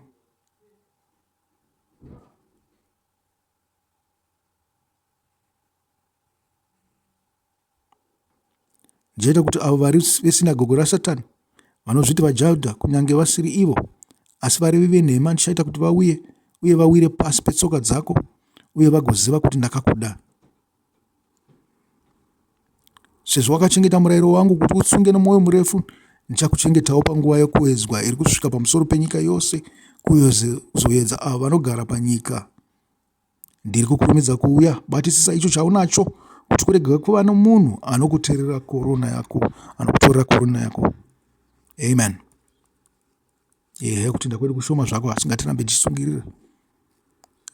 Ndichaita kuti avo vari vesinagogo raSatani vanozviti vaJudha, kunyange vasiri ivo, asi varevi venhema, ndichaita kuti vauye uye vawire pasi petsoka dzako uye vagoziva kuti ndakakuda. Sezvo wakachengeta murayiro wangu kuti utsunge nomwoyo murefu, ndichakuchengetawo panguva yokuedzwa iri kusvika pamusoro penyika yose kuzoedza avo vanogara panyika. Ndiri kukurumidza kuuya. Batisisa icho chaunacho kuti kurege kuva nomunhu anokutorera korona yako, anokutorera korona yako. Amen. Ehe, kutenda kwedu kushoma zvako asi ngatirambe tichisungirira.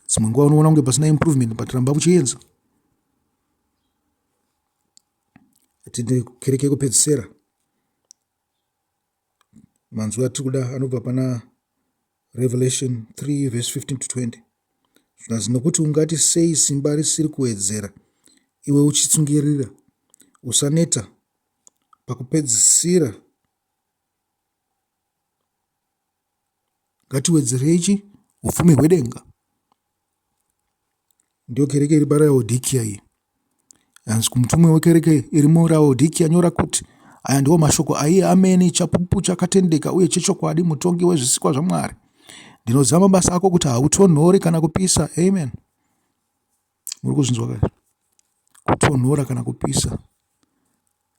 Dzimwe nguva unoona kunge pasina improvement but ramba kuchienza. Tinde kereke yekupedzisira. Manzwi atiri kuda anobva pana Revelation 3 verse 15 to 20 zvikanzi nokuti ungati sei simba risiri kuwedzera iwe uchitsungirira usaneta pakupedzisira ngatiwedzerei chi upfumi hwedenga Ndiyo kereke iri paRaodhikiya iyi. Hanzi kumutumwa wekereke iri muRaodhikiya, Nyora kuti, Aya ndiwo mashoko aiye amene, chapupu chakatendeka uye chechokwadi, mutongi wezvisikwa zvaMwari. Ndinoziva mabasa ako kuti hautonhori kana kupisa. Amen. Muri kuzvinzwa ka? Kutonhora kana kupisa.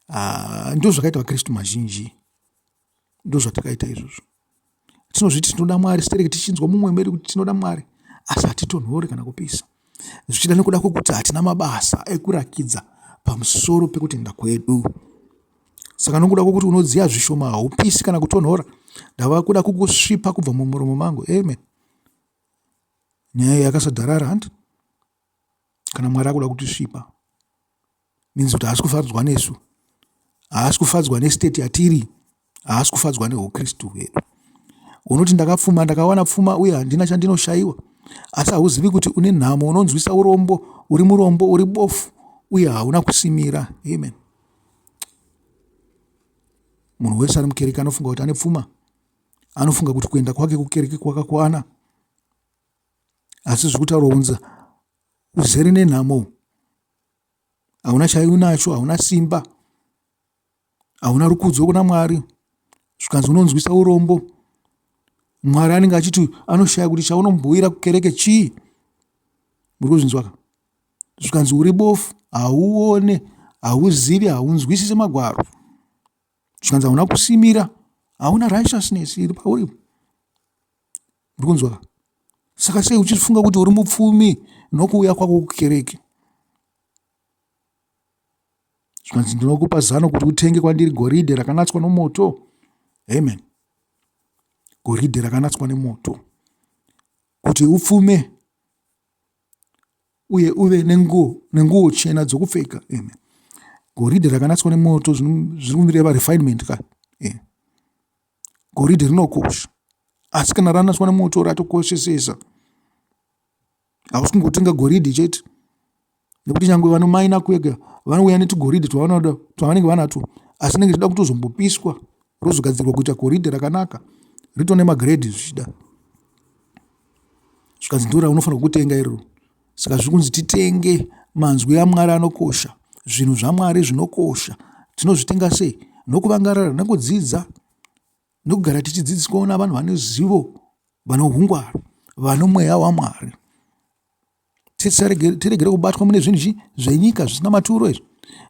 Ah, ndizvo zvakaita vaKristu mazhinji. ndozvatakaita izvozvo tinozviti tinoda mwari stereki tichinzwa mumwe medu kuti tinoda mwari asi hatitonhori kana kupisa zvichida nekuda kwekuti hatina mabasa ekurakidza pamusoro pekutenda kwedu saka nokuda kwokuti unodziya zvishoma haupisi kana kutonhora ndava kuda kukusvipa kubva mumuromo mangu amen nyaya yakasadharara handi kana mwari akuda kutisvipa means kuti haasi kufadzwa nesu haasi kufadzwa nestate yatiri haasi kufadzwa neukristu hwedu unoti ndakapfuma ndakawana pfuma uye handina chandinoshayiwa asi hauzivi kuti une nhamo unonzwisa urombo uri murombo uri bofu uye hauna kusimira amen munhu wese ari mukereke anofunga kuti ane pfuma anofunga kuti kuenda kwake kukereke kwakakwana asi zviri kutaurwa kunzi uzere nenhamo hauna chaunacho hauna simba hauna rukudzo kuna mwari zvikanzi unonzwisa urombo mwari anenge achiti anoshaya kuti chaunombuyira kukereke chii muri kuzvinzwaka zvikanzi uri bofu hauone hauzivi haunzwisise magwaro zvikanzi hauna kusimira hauna righteousness iri pauri Muri kunzwa? Saka sei uchifunga kuti uri mupfumi nokuuya kwako kukereke? Zvikanzi ndinokupa zano kuti utenge kwandiri goridhe rakanatswa nomoto. Amen. Goridhe rakanatswa nemoto kuti upfume uye uve nenguo nenguo chena dzokupfeka eme goridhe rakanatswa nemoto zviri kumireva refinement ka e Goridhe rinokosha asi kana ranaswa nemoto ratokoshesesa. Hausi kungotenga goridhe chete nekuti nyangwe vanomaina kuega vanouya netugoridhe twavanoda twavanenge vanatwo asi rinenge richida kutozombopiswa rozogadzirwa kuita goridhe rakanaka rito nemagrade zvichida zvikanzi ndora unofanirwa kutenga iroro. Saka zviri kunzi titenge manzwi aMwari anokosha, zvinhu zvaMwari zvinokosha. Tinozvitenga sei? Nokuvangarara, nokudzidza, nokugara tichidzidziswawo navanhu vane zivo, vane ungwaru, vano mweya waMwari. Tiregere kubatwa mune zvinhu zvenyika zvisina maturo izvi,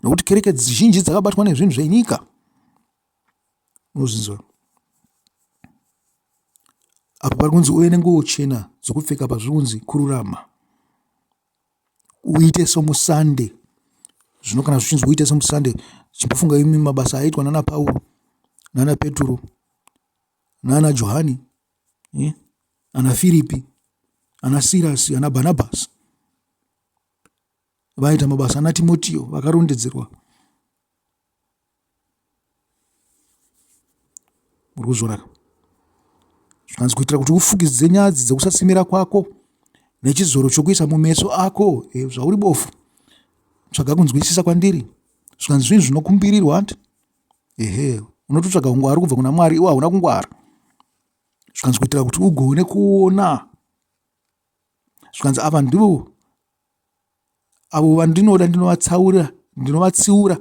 nokuti kereke zhinji dzakabatwa nezvinhu zvenyika. Unozvinzwa? Apa pari kunzi uve nenguo chena dzokupfeka pazviri kunzi kururama. Uite somusande. Zvino kana zvichinzi uite somusande, chimbofunga imi mabasa aitwa nana Pauro, nana Peturo, nana Johani, eh? ana Firipi, ana Sirasi, ana Barnabasi vaita mabasa ana timotio vakarondedzerwa Uri kuzviona ka? Zvikanzi kuitira kuti ufukidze nyadzi dzekusasimira kwako nechizoro chokuisa mumeso ako e, zvauri bofu tsvaga kunzwisisa kwandiri zvikanzi zvinhu zvinokumbirirwa hanti ehe unototsvaga ungwari kubva kuna mwari iwo hauna kungwara zvikanzi kuitira kuti ugone kuona zvikanzi ava ndivo Avo vandinoda ndinovatsaura, ndinovatsiura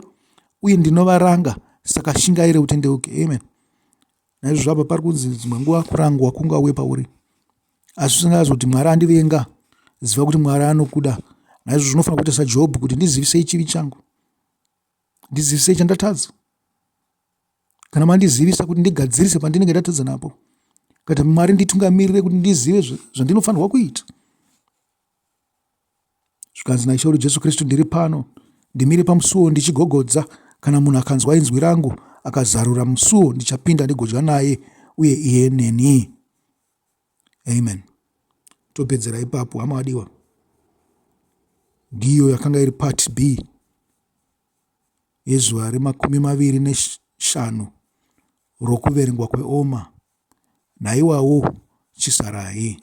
uye ndinovaranga saka shingaire utendeuke. Amen. Naizvozvo apa pari kunzi dzimwe nguva kurangwa kungauye pauri asi usingazi kuti Mwari andivenga, ziva kuti Mwari anokuda. Naizvozvo zvinofanira kuita saJobhu kuti ndizivisei chivi changu, ndizivisei chandatadza kana mandizivisa kuti ndigadzirise pandinenge ndatadza napo, kuti Mwari nditungamirire kuti ndizive zvandinofanirwa kuita. zvikanzi naIshe wedu Jesu Kristu, ndiri pano, ndimire pamusuo ndichigogodza. Kana munhu akanzwa inzwi rangu akazarura musuo, ndichapinda ndigodya naye uye iye neni. Amen. Topedzera ipapo, hama wadiwa. Ndiyo yakanga iri part B yezuva remakumi maviri neshanu rokuverengwa kweoma naiwawo chisarai.